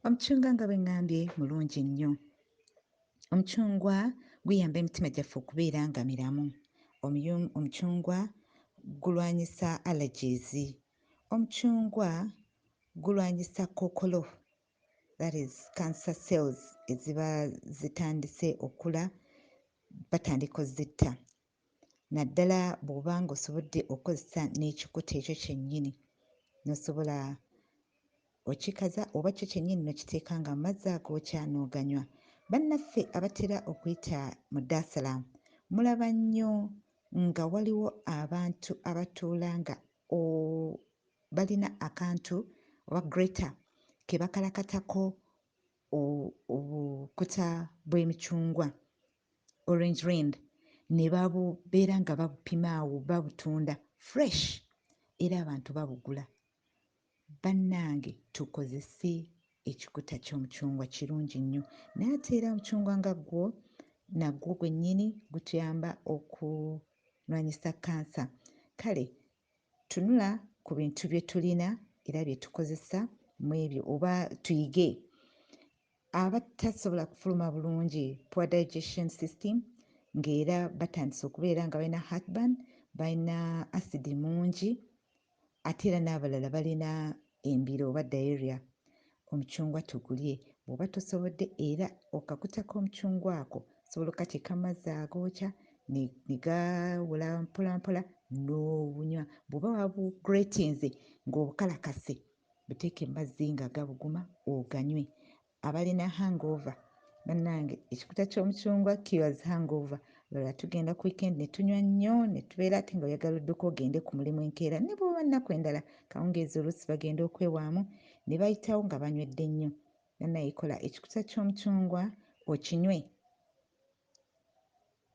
omucungwa nga bwe ŋŋambye mulungi nnyo omucungwa guyamba emitima gyaffe okubeera nga miramu omucungwa gulwanyisa allergies omucungwa gulwanyisa kookolo that is cancer cells eziba zitandise okula batandika ozitta naddala bw'oba ng'osobodde okukozesa n'ekikuta ekyo kyennyini n'osobola okikaza oba kyo kyennyini n'okiteeka nga mu mazzi agookya n'oganywa. Bannaffe abatera okuyita mu Dar es Salaam mulaba nnyo nga waliwo abantu abatuula nga balina akantu oba grater ke bakalakatako obukuta bw'emicungwa orange rind ne babubeera nga babupima awo babutunda fresh era abantu babugula bannange tukozese ekikuta ky'omucungwa kirungi nnyo naye ate era omucungwa nga gwo nagwo gwennyini gutuyamba okulwanyisa kansa kale Tunula ku bintu bye tulina era bye tukozesa mu ebyo oba tuyige abatasobola kufuluma bulungi poor digestion system ng'era batandise okubeera nga balina heartburn balina asidi mungi ate era n'abalala balina embira oba diarrhea, omucungwa tugulye bwoba tosobodde era okakutako omucungwa ako osobola okateeka mumazzi agookya negawula mpola mpola nobunywa bwoba wabu gratinze nga obukalakase buteeke mumazzi nga gabuguma oganywe Abalina hangover banange ekikuta kyomucungwa cures hangover lwala tugenda ku weekend netunywa nnyo netubeera ate nga oyagala odduka ogende ku mulimu enkeera nebwoba nnaku endala kawungeezi oluusi bagenda okwewaamu nebayitawo nga banywedde nnyo banaye kola ekikuta kyomucungwa okinywe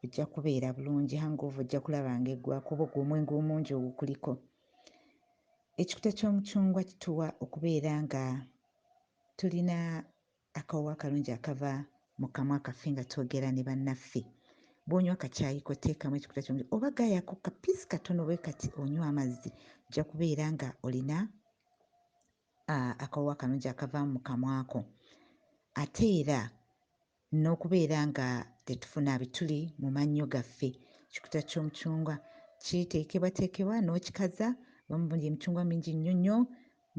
Ojja kubeera bulungi, hangover ojja kulaba nga eggwa kuba ogwo omwenge omungi ogukuliko. Ekikuta ky'omucungwa kituwa okubeera nga tulina akawoowo akalungi akava mu kamwa kaffe nga twogera ne bannaffe. Bw'onywa kacaayi ko teekamu ekikuta ky'omucungwa oba gaayako kapiisi katono bwe kati onywe amazzi, ojja kubeera nga olina akawoowo akalungi akavaamu mu kamwa ko. Ate era n'okubeera nga tetufuna bituli mu mannyo gaffe. Ekikuta ky'omucungwa kiteekebwateekebwa n'okikaza omuli emicungwa mingi nnyo nnyo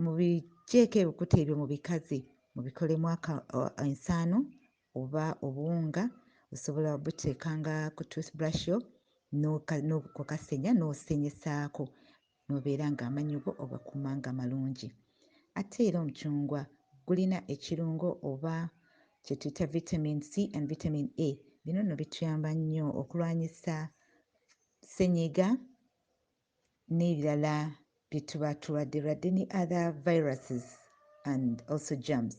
mubigyeeko ebikuta ebyo mubikaze mubikolemu ensaano oba obuwunga osobola obuteeka nga ku toothbrush yo n'okukasenya n'osenyesaako n'obeera ng'amannyo go ogakuuma nga malungi. Ate era omucungwa gulina ekirungo oba kye tuyita vitamin C and vitamin A. Bino nno bituyamba nnyo okulwanyisa ssennyiga n'ebirala bye tuba tulwadderwadde ne other viruses and also germs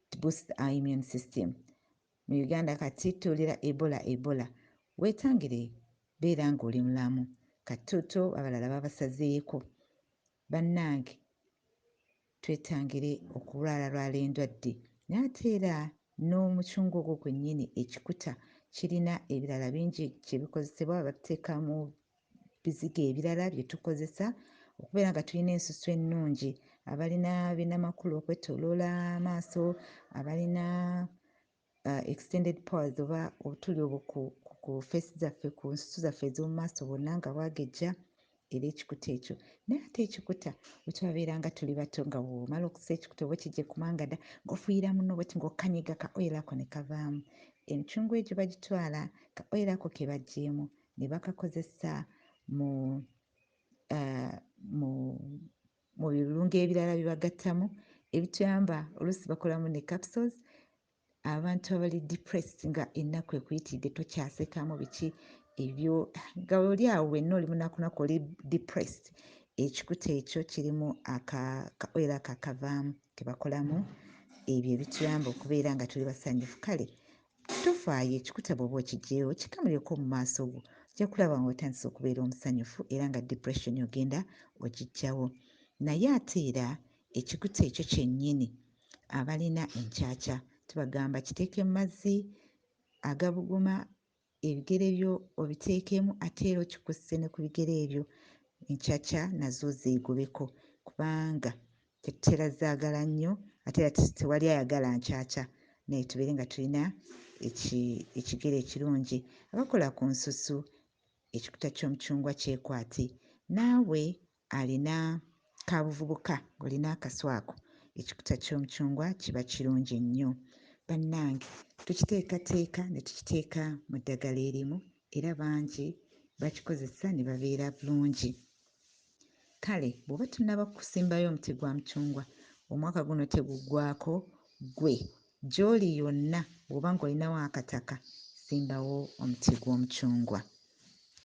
to boost our immune system. Mu Uganda kati tuwulira Ebola Ebola. Wetangire beera nga oli mulamu. Katoto abalala babasazeeko. Banange twetangire okulwala lwala endwadde. Naye ate era n'omucungwa ogwo gwenyini ekikuta kirina ebirala bingi kyebikozesebwa babiteka mu bizigo ebirala bye tukozesa okubeera nga tulina ensusu ennungi abalina binamakulu okwetoloola amaaso abalina uh, extended powers oba obutuli obwo ku feesi zaffe ku nsusu zaffe ez'omu maaso bwonna nga bwagejja era ekikuta ekyo naye ate ekikuta wetwabeera nga tuli bato nga womala okusa ekikuta oba okijje kumangada ngaofuuyira muno bweti ngaokanyiga ka oyira ko ne kavaamu emicungwa egyo bagitwala ka oyira ko ke baggyeemu ne bakakozesa mu uh, mu mu birungo ebirala bibagattamu ebituyamba oluusi bakolamu ne capsules abantu abali depressed nga ennaku ekuyitidde tokyasekamu biki ebyo nga oli awo wenna oli munakunaku oli depressed ekikuta ekyo kirimu akaoil ako akavaamu kebakolamu ebyo ebituyamba okubeera nga tuli basanyufu kale Tofaayo ekikuta bw'oba okiggyeewo kikamulyeko mu maaso go, ojja kulaba ng'otandise okubeera omusanyufu era nga depression ogenda ogiggyawo. Naye ate era ekikuta ekyo kyennyini abalina enkyakya tubagamba kiteeke mu mazzi agabuguma ebigere byo obiteekemu ate era okikusse ne ku bigere ebyo enkyakya nazo zeegobeko kubanga Era zaagala nnyo ate era tewali ayagala nkyakya naye tubeere nga tulina ekigere ekirungi. Abakola ku nsusu ekikuta ky'omucungwa kyekwati. Naawe alina ka buvubuka ng'olina akasu ako ekikuta ky'omucungwa kiba kirungi nnyo. Bannange tukiteekateeka ne tukiteeka mu ddagala erimu era bangi bakikozesa ne babeera bulungi. Kale bw'oba tonnaba kusimbayo omuti gwa mucungwa, omwaka guno teguggwaako ggwe. Gy'oli yonna bw'oba ng'olinawo akataka, simbawo omuti gw'omucungwa.